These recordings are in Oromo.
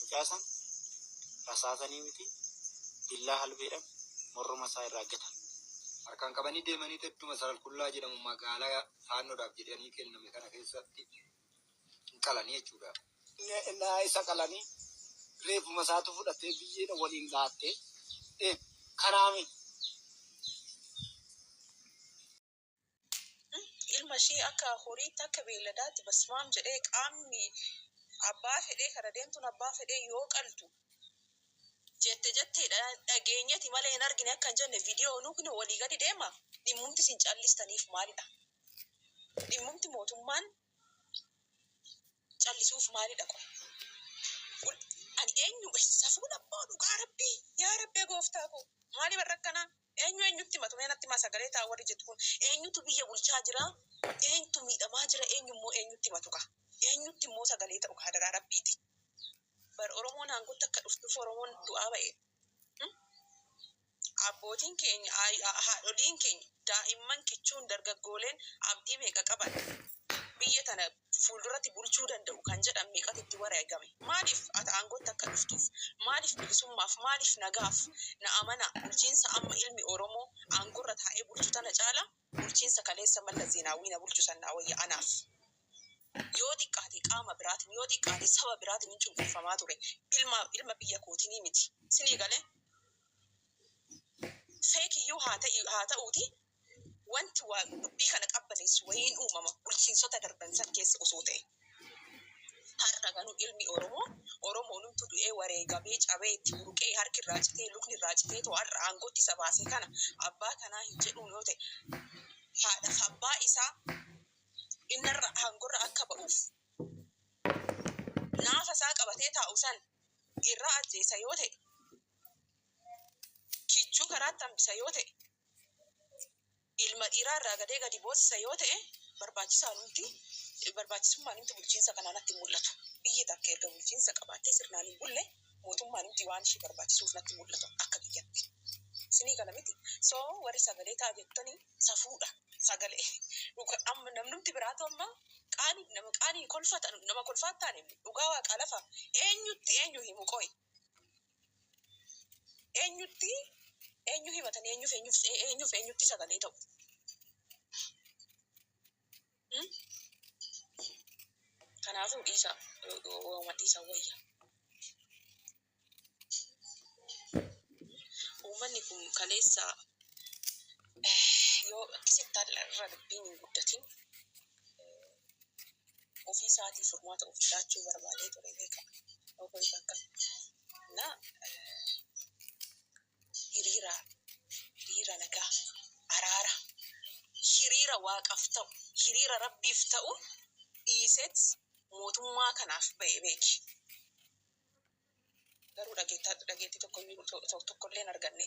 Mucaa san rasaasanii miti billaa halbeedhan morruma isaa irraa gatan. Harkaan qabanii deemaniit edduma Saralqullaa jedhamu magaala faannodhaaf jedhanii kenname kana keessatti hin qalanii jechuudha. Ennaa isa qalanii reeffuma isaatu fudhatee biyyeedha waliin dhaattee kanaami. Ilma ishii akka horiitti akka beelladaatti basmaam jedhee qaamni abbaa fedhee kana deemtuun abbaa fedhee yoo qaltu jette jettee dhageenyeti malee hin argine akka hin jenne viidiyoo nuukni walii gadi deema dhimmumti isin callistaniif maalidha? Dhimmumti mootummaan callisuuf maalidha qoy? Ani eenyu safuun abboo dhugaa rabbii yaa rabbee gooftaa koo maaliif irra akkanaa? Eenyu eenyutti himatu mee natti himaa sagalee ta'a warri jettu kun eenyutu biyya bulchaa jira eenytu miidhamaa jira eenyu immoo eenyutti himatu kaa eenyutti immoo sagalee ta'u kaa hadaraa rabbiiti bar oromoon aangotti akka dhuftuuf oromoon du'aa ba'e abbootiin keenya haadholiin keenya daa'imman kichuun dargaggooleen abdii meeqa qaban biyya tana fuulduratti bulchuu danda'u kan jedhan meeqatu itti wareegame? Maaliif ati aangootti akka dhuftuuf? Maaliif bilisummaaf? Maaliif nagaaf? Na amanaa, bulchiinsa amma ilmi Oromoo aangoorra taa'ee bulchu tana caala bulchiinsa kaleessa Mallas Zeenaawwii na bulchu san naa wayya anaaf. Yoo xiqqaate qaama biraatiin, yoo xiqqaate saba biraatiinin cunqurfamaa ture. Ilma, ilma biyya kootiinii miti. Sinii galee? Fake iyyuu haa ta'i, haa ta'uutii wanti Waaq dubbii kana qabbaneessu wayiin uumama bulchiinsota darban san keessa osoo ta'e. Har'a garuu ilmi Oromoo, Oromoonumtu du'ee, wareegamee, cabee, itti buruqee, harki irraa citee, lukni irraa citeetoo har'a aangootti isa baase kana abbaa kanaa hin jedhuun yoo ta'e, haadha fi abbaa isaa innarra, aangorra akka ba'uuf naafa isaa qabatee taa'u san irraa ajjeesa yoo ta'e, kichuu karaatti hambisa yoo ta'e, ilma dhiiraa irraa gadee gadi boosisa yoo ta'e barbaachisaanumti barbaachisummaanumti bulchiinsa kanaa natti hin mul'atu. Biyyi takka erga bulchiinsa qabaattee sirnaan hin bulle mootummaanumti waan ishii barbaachisuuf natti hin mul'atu akka kiyyatti. Isinii gala miti? So warri sagalee ta'a jettani safuudha. Sagalee dhuga amma namnumti biraatu amma qaani nama qaani kolfa ta nama kolfaa hin taane dhugaa waaqaa lafa eenyutti eenyu himu qoyi. Eenyutti eenyu himatanii eenyuuf eenyuuf eenyutti sagalee ta'u? Kanaafuu dhiisa waama dhiisa wayya. Uummanni kun kaleessa yoo akkasitti irra dubbiin hin guddatin ofii isaatii furmaata ofii laachuu barbaadee ture beeka. Obbo Ifakkam. Na hiriira hiriira nagaa araara hiriira waaqaf ta'u hiriira rabbiif ta'u dhiiseet mootummaa kanaaf ba'e beeki. Garuu dhageettaa dhageettii tokko iyyuu to- to- tokko illee hin arganne.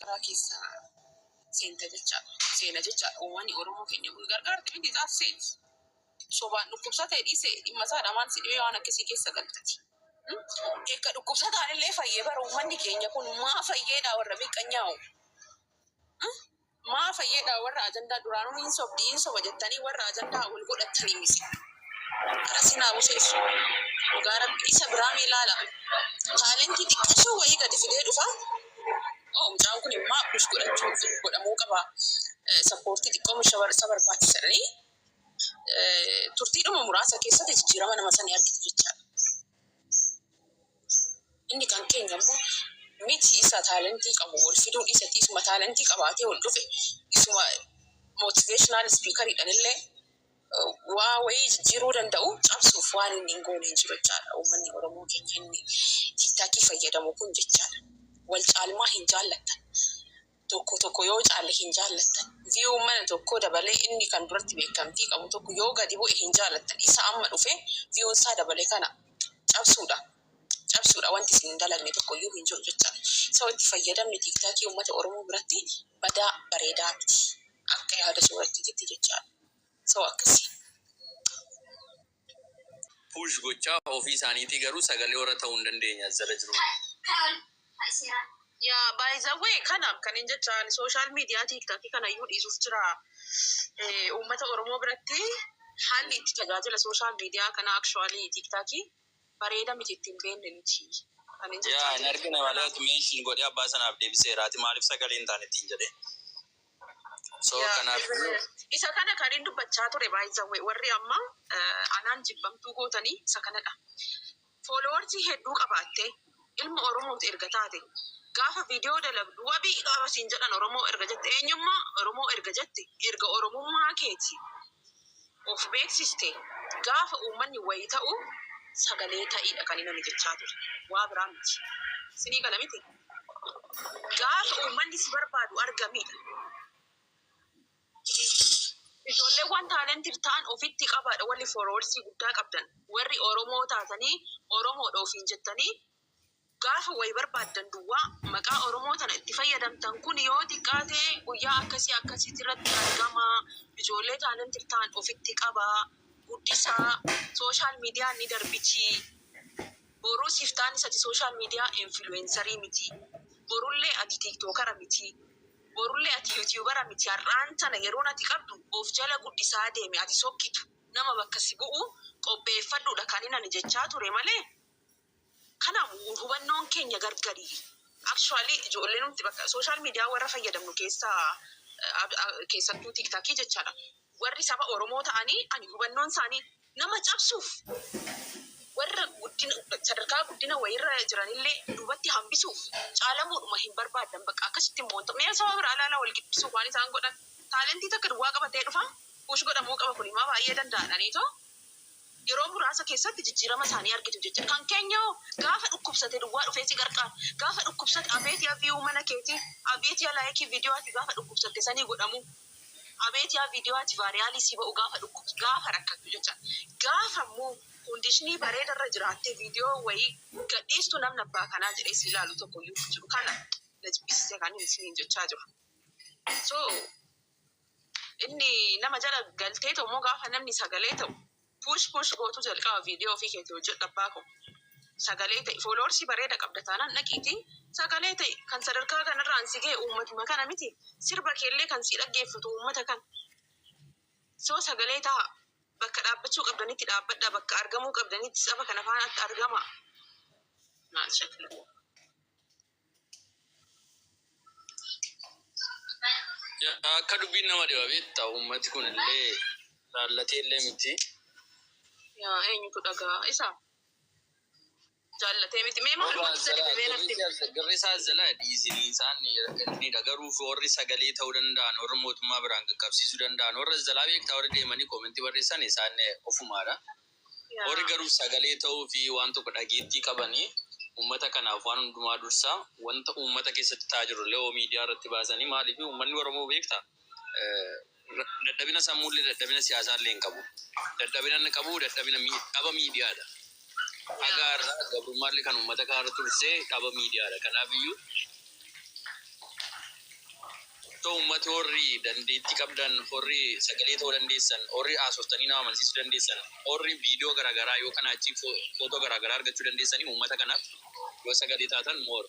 Garaa keessa seenta jecha seena jecha uummanni Oromoo keenya kun gargaarte miti gaaf seeti. Sobaan dhukkubsate dhiise dhimma isaadha maal si dhibee waan akkasii keessa galtati. Eegga dhukkubsataan illee fayye bara uummanni keenya kun maa fayyeedha warra miqqanyaa'u. Maa fayyadha warra ajandaa duraanuu hin sobdi hin soba jettanii warra ajandaa wal godhattanii miti. Gara siin haa buseessu. Dhugaa rabbi isa biraa mee laala. Taalentii xiqqashoo wayii gadi fidee dhufa. Oo mucaan kun immaa push godhachuu fi godhamuu qaba. Eh, Sappoortii xiqqoo misha bar- isa barbaachisa jedhanii eh, turtiidhuma muraasa keessatti jijjiirama nama sanii argite jechaadha. Inni kan keenya immoo miti isa taalentii qabu wal fiduu dhiisati isuma taalentii qabaatee ol dhufe isuma motivational speaker dhan illee waa wayii jijjiiruu danda'u cabsuuf waan inni hin goone hin jiru jechaadha. Uummanni Oromoo keenya inni tiktakii fayyadamu kun jechaadha. Wal caalmaa hin jaallattan. tokko tokko yoo caalle hin jaallattan. View mana tokkoo dabalee inni kan duratti beekkamtii qabu tokko yoo gadi bu'e hin jaallattan. Isa amma dhufe view isaa dabale kana cabsuudha. Cabsuudha wanti isin hin dalagne tokko iyyuu hin jiru jechaadha. So itti fayyadamni TikTok uummata Oromoo biratti badaa bareedaa miti. Akka yaada soorattiititti jechaadha. So akkasi. push gochaa ofii isaaniitii garuu sagalee warra ta'uu hin dandeenye as jala jiruuf. Yaa by the way kana kanin jechaa ani social media tiktok kana iyyuu dhiisuuf jira uummata oromoo biratti haalli itti tajaajila social media kana actually tiktok bareeda miti itti hin beekne nuti kanin jechaa Yaa hin jiru argine malee kanaaf. ati mention godhee abbaa sanaaf deebiseera ati maaliif sagalee hin taane ittiin jedhee. So Yaa kanaaf iyyuu ijoollee isa kana kan hin dubbachaa ture baay'isawwe warri amma eh, anaan jibbamtuu gootanii isa kanadha. Fooloowarsii hedduu qabaattee ilma Oromooti erga taate gaafa viidiyoo dalagdu wabii qaba siin jedhan Oromoo erga jette eenyummaa Oromoo erga jette erga Oromummaa keeti of beeksiste gaafa uummanni wayi ta'u sagalee ta'iidha kan inni jechaa ture. Waa biraa miti. Sinii gala miti? Gaafa uummanni si barbaadu argamiidha. Ijoolleewwan talented ta'an ofitti qabaadha warri followers guddaa qabdan. Warri Oromoo taatanii Oromoodha ofiin jettanii Gaafa wayi barbaaddan duwwaa maqaa Oromoo tana itti fayyadamtan kun yoo xiqqaate guyyaa akkasii akkasiiti irratti argamaa, ijoollee talented tahan ofitti qabaa, guddisaa, social median ni darbitii, boruus iftaanis ati social media influencer miti, borullee ati tiktokara miti, borullee ati youtubera miti har'aan tana yeroon ati qabdu of jala guddisaa deemi ati sokkitu. Nama bakka si bu'u qopheeffadhuudha kanin ani jechaa ture malee. Kanaaf hubannoon keenya gargari. Actually ijoollee nuti bakka social media warra fayyadamnu keessa keessattuu tiktakii jechaadha warri saba oromoo ta'anii ani hubannoon isaanii nama cabsuuf warra guddina sadarkaa guddina wayiirra jiranillee duubatti hambisuuf caalamuudhuma hin barbaaddan bakka akkasitti immoo wanto mee saba biraa ilaalaa wal giddisuuf waan isaan godhan taalentii takka duwwaa qabatee dhufa push godhamuu qaba kunimaa baay'ee danda'adhaniitoo Yeroo muraasa keessatti jijjiirama isaanii argitu jecha. Kan keenya hoo? Gaafa dhukkubsate duwwaa dhufee si qarqaara. Gaafa dhukkubsate abeet yaa view mana keetii, abeet yaa like video ati gaafa dhukkubsatte sanii godhamuu, abeet yaa video ati varial si ba'u gaafa dhukkubs gaafa rakkattu jecha. Gaafa immoo condition bareeda irra jiraattee video wayii gad dhiistu namni abbaa kanaa jedhee si ilaalu tokko iyyuu hin jiru. Kana na jibbisiise kanin isiniin jechaa jiru. So. Inni nama jala galtee ta'u moo gaafa namni sagalee ta'u push push gootu jalqaba video ofii keeti hojjedhu abbaa koo. Sagalee ta'e followers bareeda qabda taanaan dhaqiiti sagalee ta'e kan sadarkaa kanarraan si ga'e uummatuma kana miti sirba keellee kan si dhaggeeffatu uummata kana. So sagalee ta'a bakka dhaabbachuu qabdanitti dhaabbadha bakka argamuu qabdanitti saba kana faanatti argama. Maal shakla. Akka dubbiin nama dhiba beektaa uummati kun illee laallatee illee miti. Yaa eenyutu dhaga'a isa? Jaallatee miti. Mee maal gochuu dadhabe mee natti himi. Garri isaa zala dhiisin isaan ergniidha garuu warri sagalee ta'uu danda'an warri mootummaa biraan qaqqabsiisuu danda'an warra zalaa beektaa warri deemanii koomentii barreessan isaan ofumaadha. Warri garuu sagalee ta'uu fi waan tokko dhageettii qaban uummata kanaaf waan hundumaa dursa wanta uummata keessatti ta'aa jiru illee hoo miidiyaa irratti baasanii maaliif uummanni Oromoo beektaa dadhabina sammuu illee dadhabina siyaasaa illee hin qabu dadhabina inni qabu dadhabina dhaba miidiyaa dha haga har'aa gabrummaa illee kan uummata kaan irra tursee dhaba miidiyaa dha kanaaf iyyuu Kotto ummati horri dandeetti qabdan horri sagalee ta'u dandeessan horri haasoftanii nama amansiisu dandeessan horri video garagaraa yoo kana achii photo garagaraa argachuu dandeessanii ummata kanaf yoo sagalee taatan more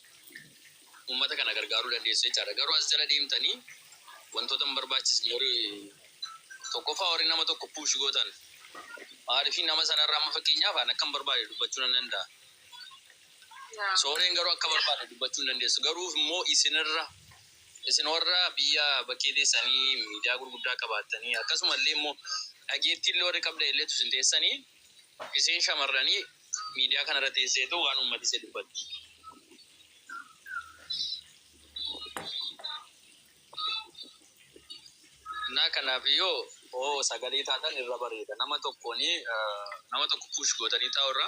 ummata kana gargaaruu dandeessu jechaadha garuu as jala deemtanii wantoota hin barbaachisne horri tokkoffaa horri nama tokko puushi gootan maalifi nama sanarra amma fakkeenyaaf an akkan barbaade dubbachuu nan danda'a sooreen garuu akka barbaade dubbachuu hin dandeessu garuuf immoo isinirra Isin warra biyya bakkee teessanii miidiyaa gurguddaa qabaattanii, akkasuma illee immoo dhageettii illee warri qabdan illee utuu isin teessanii, isiin shamarranii miidiyaa kana irra teessee too waan uummati isee dubbatti. Naa kanaaf yoo oo sagalee taatan irra bareeda. Nama tokkoon nama tokko push gootanii taa'u irra.